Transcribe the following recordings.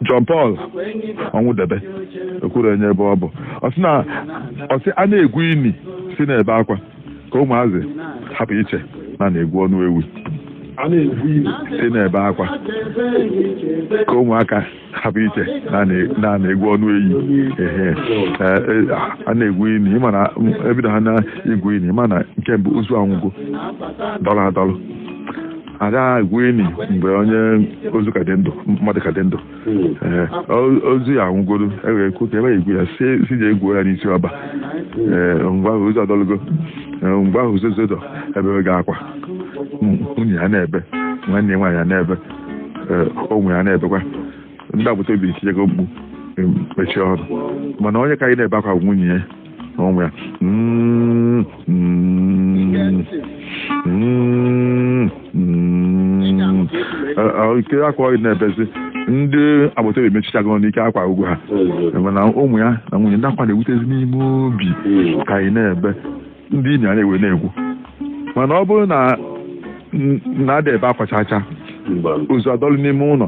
John Paul Ọnwụdebe ekwuru enye ebe ọ bụ ọ sị na ọ sị a na-egwu ini si na-ebe akwa ka ụmụazị hapụ iche na a na-egwu ọnụ ewi si na-ebe akwa ka ụmụaka hapụ iche na a na-egwu ọnụ eyi ehe a na-egwu ini ị ma na e bido ha na-egwu ini ị ma na nke mbụ ozu anwụgo dọrọ adọrọ ada egwu ini mgbe onye ozu ka dị ndụ mmadụ ka dị ndụ Ee, o- ozu ya anwụgoro ewere ekwu ka ewere egwu ya sị sị je gwuo ya n'isi ọba Ee, mgbe ahụ ozu adọlụgo Ee, mgbe ahụ ozu dọ ebere ga akwa M- nwunye ya na-ebe nwanne ya nwaanyị ya na-ebe Ee, ụmụ ya na-ebekwa ndị agbata obi etiego mkpu em, mechie ọnụ mana onye ka anyị na-ebe akwa bụ nwunye ya Ụmụ ya. Mm, mm, mm, mm. Eh, eh, Ike akwa gị na-ebezi ndị agbata obi emechichago ọnụ ike akwa agwụ ha mana ụmụ ya na nwunye ndị akwa na-ewutezi n'ime obi ka anyị na-ebe ndị ini a na-ewe na-egwu mana ọ bụrụ na ada ebe akwa chacha ozu adọlụ n'ime ụnọ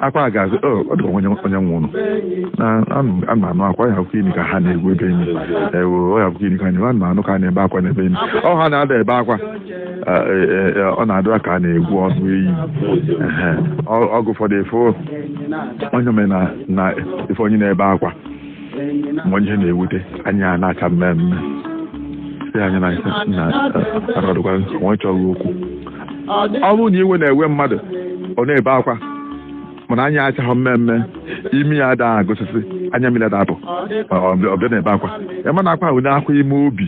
akwa gazi ọ dịkwa onye nwụrụ a na-anụ akwa ya ọ bụkwa ini ka ha na-egwu ebe nị ewe ọ ya ọ bụkwa ini ka anyị a na-anụ ka a na-ebe akwa n'ebe nị ọ ha na ada ebe akwa ọ na-adị ka a na-egwu ọnụ eyi oge ụfọdụ ị fụ onye o me na ị fụ onye na-ebe akwa ma onye ihe na-ewute anya na-acha mmee mmee sị anya na na aradụkwa onye chọrọ okwu ọ bụrụ na iwe na-ewe mmadụ ọ na-ebe akwa mana anya achaghị mmee mmee imi ya ada agụsịsị anya mmiri ada apụ ọ bịa na-ebe akwa ị ma na akwa ahụ na-akwa ime obi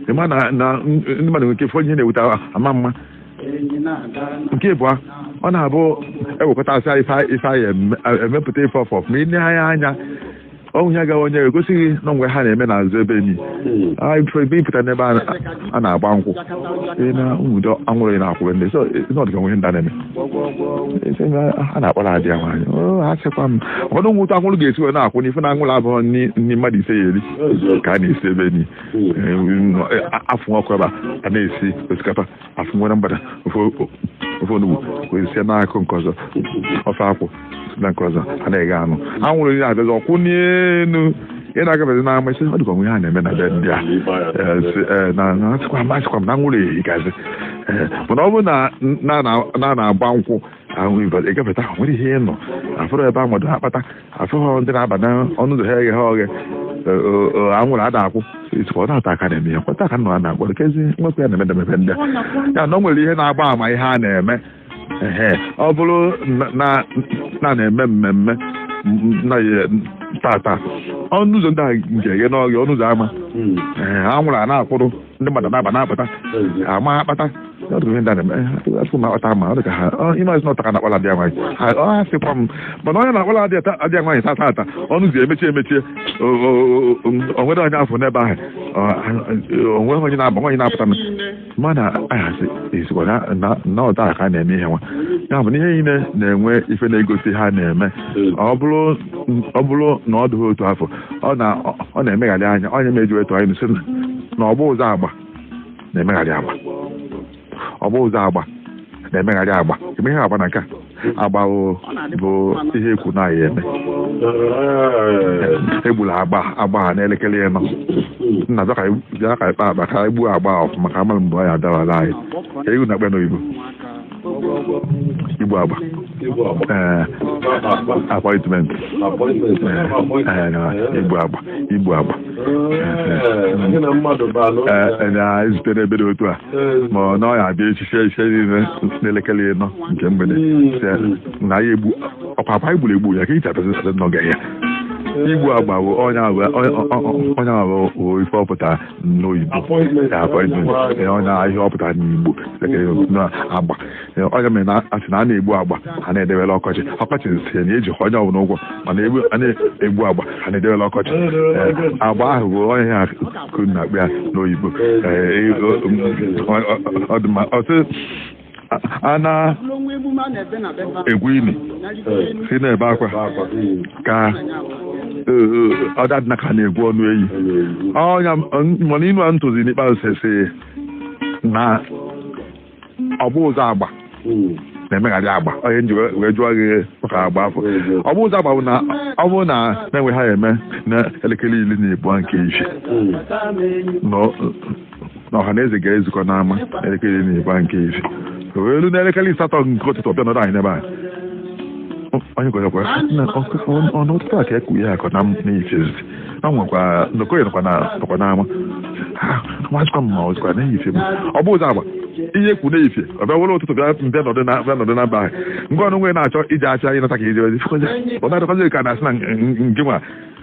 ị ma na na ndị mmadụ nwere ike fọ ihe na-ewute ama mma nke ịbụọ ọ na-abụ e wekọtasị ife nị e mepụta ife ọfọ ma i nee ya anya ọnwụ ya gawa onye egosi gị na o nwe ihe a na-eme n'azụ ebe nị ebe ị pụta n'ebe a na-agba nkwụ na nwudo anwụrụ na-akwụ ndị sị ọ dịkwa nwe ndị na-eme a na-akpọrọ ada ya nwaanyị asịkwa m ụfọdụ ụmụ ụtọ anwụrụ ga-esi wee na-akwụ n'ife na anwụrụ abụrọ nni mmadụ ise ya-eri ka a na-esi ebe nị a fụ ọkụ ebe a na-esi osikapa a fụ e were mgbada ofe ofe onugbu wee sie n'akụkụ nke ọzọ ofe akwụ na nke ọzọ a na-eghe anụ anwụrụ onye abịazi akwụ n'elu ị na-agabezi n'ama ị sị ọ dịkwa nwe ihe a na-eme na be ndị a Eh, si, eh, na na asịkwa m asịkwa m na anwụrụ ehigazi Eh, mana ọ bụrụ na na na- na na-agba nkwụ ahụ ị gafeta ahụ nwere ihe ịnọ afụrụ ebe a mmadụ akpata afụghị ndị na-aba n'ọnụ ụzọ ha eghe ha oghe anwụrụ ada akwụ isikwa ọ na taa ka a na-eme ya kwata aka nọ a na-akpọ kezi nwekwa ya na-eme demebe ndị a. ya na o nwere ihe na-agba ama ihe a na-eme ehe ọ bụrụ na- na na na-eme mmemme m- na ya- tata ọnụ ụzọ ndị a nke eghe n'oghe ọnụ ụzọ ama ee anwụrụ a na-akwụrụ ndị mmadụ na-aba na-apụta ama akpata asụ m akpata ma ọ dị ka ha ịmazi na ọ taa ka a na-akpọla ada nwaanyị ọ asịkwa m mana onye na-akpọla ada nwaanyị tata ọnụ ụzọ emechie emechie o nweghị onye a fụ n'ebe ahụ o nweghị onye na-aba nwee onye na-apụta m mana ahasị ezigbo na ọ taa ka a na-eme ihe nwa ya bụ na ihe niile na-enwe ife na-egosi ihe a na-eme ọ bụrụ na ọ dịghị otu afụ ọ na ọ na-emegharị anya ọ nya meji we tụa n'inu sị na obu ụzọ agba na-emegharị agba obu ụzọ agba na-emegharị agba eme ihe agba na nke a agba bụ bụ ihe e kwu na a ya-eme egbula agba agba a n'elekere ịnọ nna bịa ka anyị- bịa ka anyị kpaa akpa ka anyị gbuo agba a ọfụma ka amara mgbe ọ ya-adawara anyị e kwu na a kpọọ ya n'oyibo igbu agba ee appointment ee na igbu agba igbu agba ee na ezutere ebe dị otu a ma ọ na ọ ya abịa echi echi niile n'elekere ịnọ nke mgbede sị na ya egbu ọkwa agba anyị gburu egbu ya ka ịcha pesi sị n'oge ya igbu agba bụ onye ahụ ọ nya bụ ife ọ pụtara n'oyibo appointment na ihe ọ pụtara n'igbo agba ọ nya mere a na-asị na a na-egbu agba a na-edewela ọkọchị ọkọchị sị na eji onye ọbụla ụgwọ mana a na-egbu agba a na-edewela ọkọchị agba ahụ bụ ọ nya ka e kwuru na a kpọọ ya n'oyibo appointment a na-egwu ini sị na-ebe akwa ka ọ da adịna ka a na-egwu ọnụ eyi mana inu a m tụzi n'ikpeazụ sị na obu ụzọ agba na-emegharị agba ọ nya m ji wee jụọ gị maka agba afụ obu ụzọ agba bụ na ọ bụrụ na e nwe ihe a ya-eme na elekere iri na ịba nke ife na ọha na eze ga-ezukọ n'ama elekere iri na ịba nke ife o wee ruo n'elekere asatọ nke ụtụtụ ọ bịa nọrọ anyị n'ebe a onye gwarakwa na ọkụkọ ọnụ ụtụtụ a ka e kwu ya akọ na m n'ifezi a nwekwa nnọkọ ya nọkwa na- nọkwa n'ama Ha, nwazikwa m ma ọzikwa n'ife m obu ụzọ agba ihe e kwu n'ife ọ bịa were ụtụtụ bịa mbịa nọdụ na bịa nọdụ n'ama ahụ nke ọnụ nwere na-achọ ije afịa ịnata ka ije ozi ọ na-adịkwazi ka a na-asị na nke nwa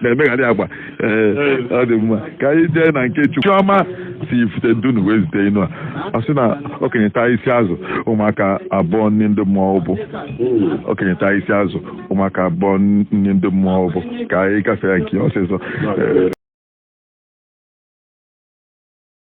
na-emegharị agba ee ọ dị mma ka anyị jee na nke chukwu chiọma si ifite dunu wee zite inu a ọ sị na okenye taa isi azụ ụmụaka abụọ nni ndị mmụọ ụbụ okenye taa isi azụ ụmụaka abụọ nni ndị mmụọ ụbụ ka anyị gafee ya nke ọsịsọ Ee,